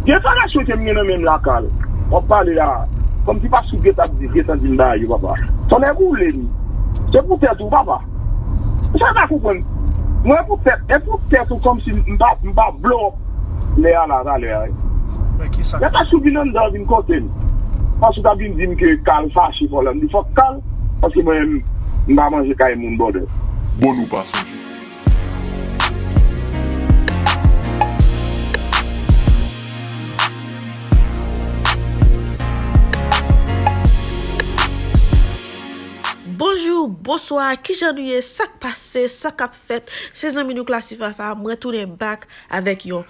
Defarasyon kem gen nan menm la Carl wap pale la komsi pap sou gentan ap di gentan dim bay yo papa tonnè boulem se pou tèt ou papa esam pa konprann mwen epou tèt epou tèt ou komsi mpa blow up lè a la talè a lè pase ou vin anndan vin kotem paske ou tap vin dim ke Carl fache fòlanda fòk Carl paske mwen menm mpa manje kay moun bòdè. Bon nou pa sonje. Bonjour Bonswa kijan nou ye sak pase sa kap fèt se zanmi nou Classifafa mwen tounen back avèk yon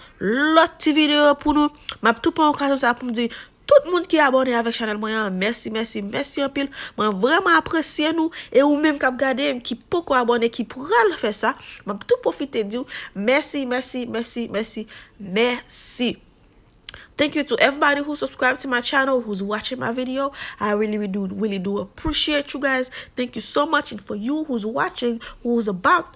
lòt ti video pou nou map tou pran okazyon sa poum di Tout moun ki abòne avèk chanèl mwen an mèsi mèsi mèsi anpil mwen vrèman apresye nou e ou menm kap gadem ki poko abòne ki pral fè sa map tou pwofite diw mèsi mèsi mèsi mèsi mèsi thank you to everybody who subscribe to my channel who's watching my video I really really do really do appreciate you guys thank you so much and for you who's watching who's about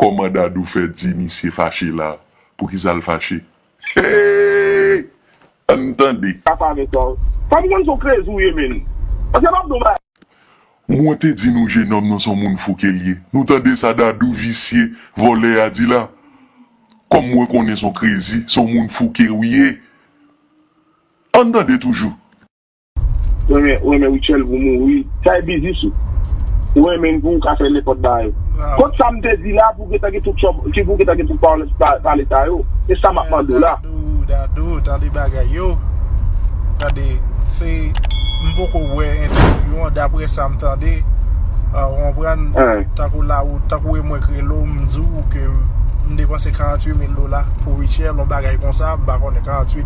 Koman Dadou fè di misye fache la poukisal fache heyy ann tande. Sa pa gen sans. Fem konn son krezi ou ye menn. Paske map di yon bagay. Mwen te di nou jenòm nan son moun fou kel ye nou tande sa dadou visye vòlè a di la kòm mwen konnen son krezi son moun fou ke ou ye ann tande toujou. Renmen renmen Rutshelle pou mouri sa e biznis ou ou renmenn pouw ka fè nenpòt bagay kont sam te di la pou gentan gen tout tchòb ki pou gentan gen tout parlance pale sa yo e sa map mandew la. Dadou dadou tande bagay yo tande se m poko wè entèvyou an daprè sam tande ou konprann tankou la ou tankou e mwen k relew m diw ke m depanse 48 mil dola pou Rutshelle yon bagay konsa m pa konnen 48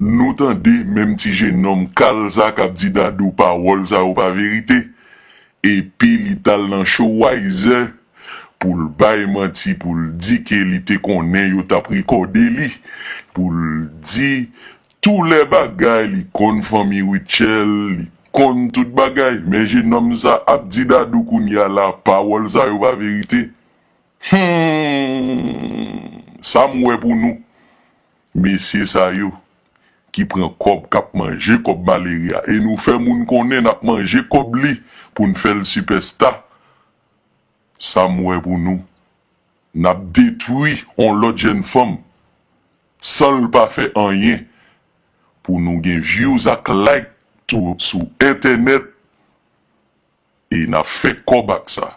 Nou tande menm ti jenòm kal sa kap di Dadou pawòl sa yo pa verite epi li tal nan show Wiser poul bay manti poul di ke li te konnen yo tap rekòde li poul di tou lè bagay li konn fanmi Rutshelle li konn tout bagay men jenòm sa ap di Dadou kounya la pawòl sa yo pa verite humm sam wè pou nou. Mesye sa yo ki pran kòb kap manje kòb malere a e nou fè moun konnen nap manje kòb li poun fèl sipèsta sam wè pou nou nap detwi on lòt jèn fanm sanl pa fè anyen pou nou gen vyouz ak like sou entènèt e nap fè kòb ak sa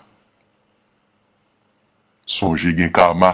sonje gen kama.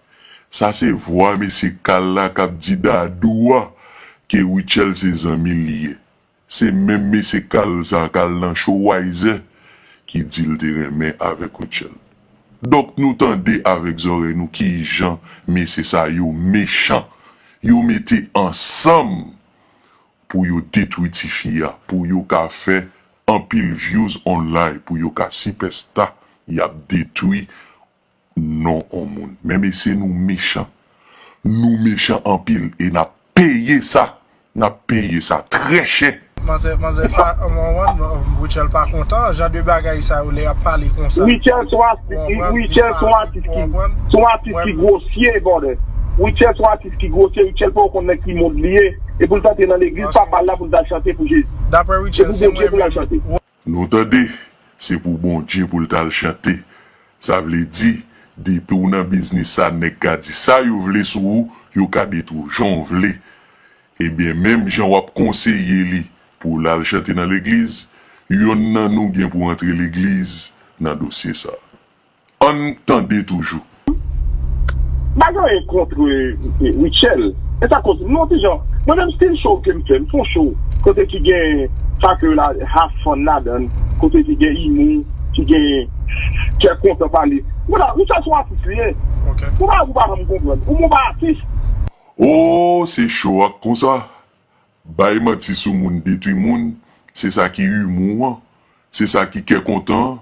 Sa se vwa mesye kal la kap di Dadou a ke Rutshelle se zanmil li ye. Se menm mesye kal sa kal nan show Wayzè ki dil te renmen avèk Rutshelle. Donk nou tande avèk zòrèy nou kijan mesye sa yo mechan. Yo mete ansanm pou yo detwi tifi a pou yo ka fè anpil vyouz online pou yo ka sipèsta yap detwi non on moun men mesye nou mechan nou mechan anpil e nap peye sa nap peye sa trè chè. Manzè manzè fa Rutshelle pa kontan jan de bagay sa yo lè yap pale konsa Rutshelle son Rutshelle son atis ki son atis ki grosye brother Rutshelle son atis ki grosye Rutshelle poko konn nan ki mond li ye epoul t antre nan legliz papal la poul tal chante pou Jezi se pou Bondye poul al chante. Nou tande, se pou Bondye pou l t al chante. Sa vle di, depi w nan biznis sa nèg ka di sa yo vle sou ou, yo ka detwi w jan w vle. Ebyen menm jan w ap konseye li pou l al chante nan legliz, yonn nan nou gen pou antre legliz nan dosye sa. Ann tande toujou. Pa gen anyen kontre Rutshelle men sa koz non ti jan mwen menm stil show kem fè m fon show kote ki gen sa ke yo la have fun ladann kote ki gen imou ki gen kè kontan pale mwen la Rutshelle son atis li ye gon bagay pou pa janm konprann ou menw pa atis. Ooh se show a k konsa bay manti sou moun detwi moun se sa ki imou an se sa ki kè kontan an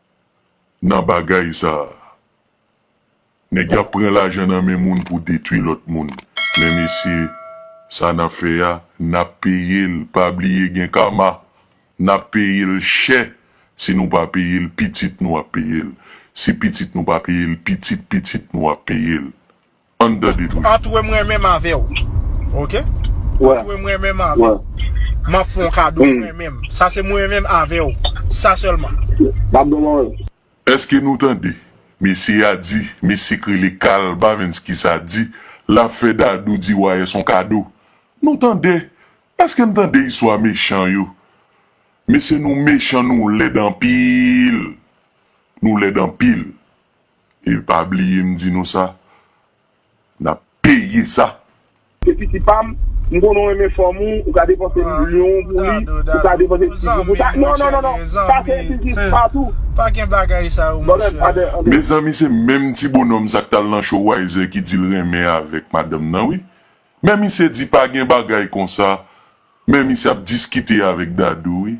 nan bagay sa nèg yap pran lajan nan men moun pou detwi lòt moun men mesye sa nap fè a nap peyel pa bliye gen kama nap peyel chè si nou pa peyel pitit nou ap peyel si pitit nou pa peyel pitit pitit nou ap peyel. Ann tande tout. Antre mwen menm avè w. Ok. Antre mwen menm avè w. M ap fè w kado mwen menm. Sa se mwen menm avè w. Sa sèlman. M ap ban w. Eske nou tande? Mesye a di, mesye k rele Carl Bavenski sa di l ap fè Dadou di Wayès on kado. Nou tande? Eske n tande istwa mechan yo? Mesye nou mechan nou lèd anpil. Nou lèd anpil. E pa bliye m di nou sa, n ap peye sa! Se piti pa m, m konnen w renmen fanm ou, ou ka depanse milyon pou li, ou ka depanse ti goud pou sa, non, non, non, non, sa se biznis pa tou! Bòdòt, an de, an de. Mezanmi se menm ti bonòm sa k t al nan show Wayzè ki di l renmen avèk madanm nan wi. Men misye di pa gen bagay konsa, men misye ap diskite avèk Dadou wi.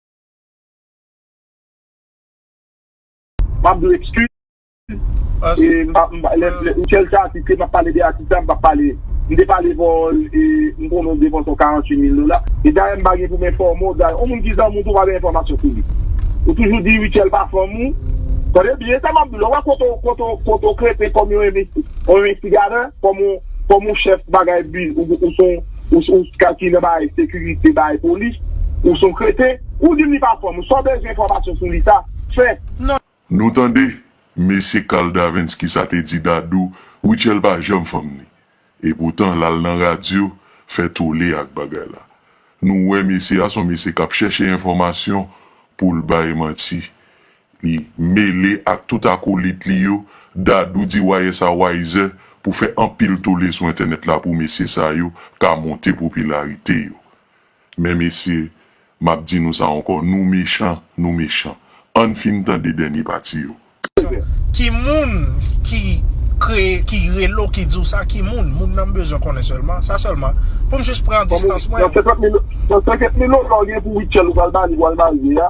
Map dwe excuse e m sel se atis ke map pale de atis la m pap pale m te pale avè w e m konnen w depanse yon 48 mil dola e dayè m pa gen pou m enfòme w dayè yon moun ki zanmi w tou pa gen enfòmasyon sou li ou toujou di Rutshelle pa fanm ou tande byen sa map di w la ou wè kote w kote w kote w kreten kòm yon envesti kòm yon envestigatè kòm yon kòm yon chèf bagay bi ou son Ou son ska ki nan bagay sekirite bagay polis ou son kreten ou dim li pa fanm ou sa w bezwen enfòmasyon sou li sa fè. Nou tande mesye Carl Davens kisa te di Dadou Rutshelle pa janm fanm ni e poutan lal nan radyo fè tole ak bagay la nou wè mesye a son mesye kap chèche enfòmasyon poul bay manti Li mele ak tout akolit li yo, Dadou di wayè sa wayzè pou fè anpil tole sou entènèt la pou mesye sa yo ka monte popilarite yo. Men mesye, m ap di nou sa ankò, nou mechan, nou mechan. Ann fin tande dènye pati yo. Ki moun ki kreye ki rele w ki di w sa ki moun moun nan m bezwen konnen sèlman sa sèlman pou m jis pran distans mwen. Nan 50 mil nan 50 mil dola w gen pou Rutshelle ou pral ba li pou al marye a.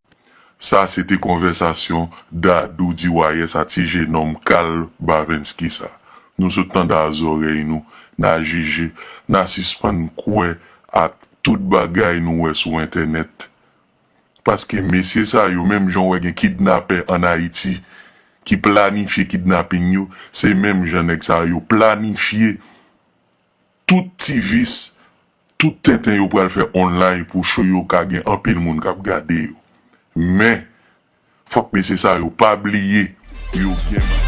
Sa se te konvèsasyon Dadou di Wayès a ti jenòm kal Bavenski sa. Nou sot tande a zòrèy nou, na jije, na sispann kwè ak tout bagay nou wè sou entènèt. Paske mesye sa yo, menm jan w wè gen kidnapè ann Ayiti ki planifye kidnaping yo, se menm jan nèg sa yo planifye Tout ti vis, tout tenten yo pral fè online pou show yo ka gen anpil moun kap gade yo. Men, fòk mesye sa yo pa bliye yo gen madanm.